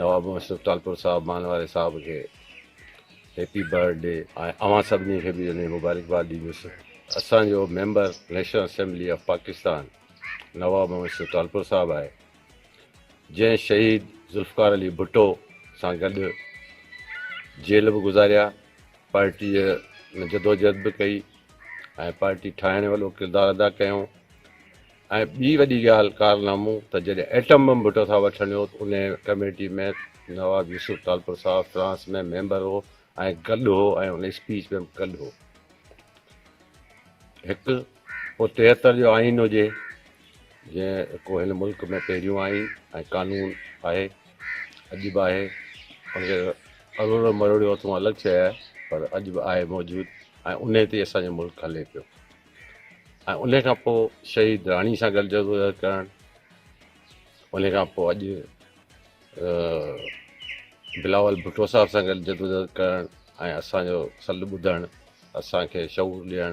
نواب مشرف ٽالپر صاحب مان واري صاحب کي هيپي برٿ ڊي ۽ اوهان سڀني کي به انهي مبارڪباد ڏيندس اسان جو member national assembly of Pakistan Nawab Musharraf Talpur Sahib آهي جنهن شهيد ذوالفقار علي ڀٽو سان گڏ جيل به گذاريا پارٽي ۾ جدوجهد به ڪئي ۽ پارٽي ٺاهڻ وڏو ڪردار ادا ڪيو ۽ ٻي وڏي ڳالهه ڪارنامو ته جڏهن ايٽم بم ڀٽو صاحب وٺڻ ويو ته انهيء committee ۾ Nawab Yusuf Talpur Sahib France ۾ member هو ۽ گڏ هو ۽ ان اسپيچ ۾ به گڏ هو. هڪ پوء تيهتر جو آئين هجي جنهن ڪو هن ملڪ ۾ پهريون آئين ۽ قانون آهي اڄ به آهي ان کي اروڙيو مروڙيو اٿئون الڳ شيء آهي پر اڄ به آهي موجود ۽ انهيء تي اسان جو ملڪ هلي پيو. ان کان پوء شهيد راڻي سان گڏ جدوجهد ڪرڻ ان کان پوء اڄ بلاول ڀٽو صاحب سان گڏ جدوجهد ڪرڻ ۽ اسانجو سڏ ٻڌڻ اسانکي شعور ڏيڻ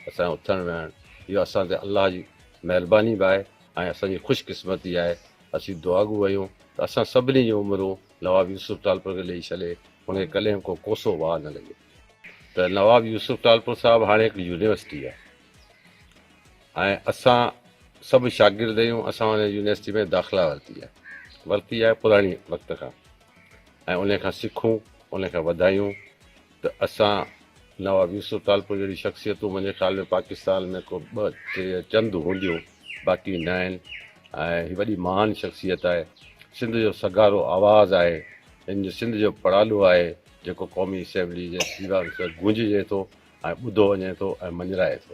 اسانجو اٿڻ ويهڻ اهو اسان تي الله جي مهرباني به آهي ۽ اسانجي خوش قسمتي آهي اسين دعاگو آهيون ته اسان سڀني جون عمرون نواب يوسف ٽالپر کي ڏئي ڇڏي هن کي ڪڏهن به ڪو ڪوسو واهه نه لڳي ته نواب يوسف ٽالپر صاحب هاڻي هڪ يونيورسٽي آهي ۽ اسان سڀ شاگرد آهيون اسان ان يونيورسٽي ۾ داخلا ورتي آهي ورتي آهي پراڻي وقت کان ۽ ان کان سکون ان کان وڌايون ته اسان نواب يوسف ٽالپر جهڙي شخصيتون منهنجي خيال ۾ پاڪستان ۾ ڪو ٻه ٽي يا چند هونديون باقي نه آهن ۽ هي وڏي مهان شخصيت آهي سنڌ جو سگهارو آواز آهي ان جو سنڌ جو پڙالو آهي جيڪو قومي اسيمبلي جي ديوان کي گونججي ٿو ۽ ٻڌو وڃي ٿو ۽ مڃرائي ٿو.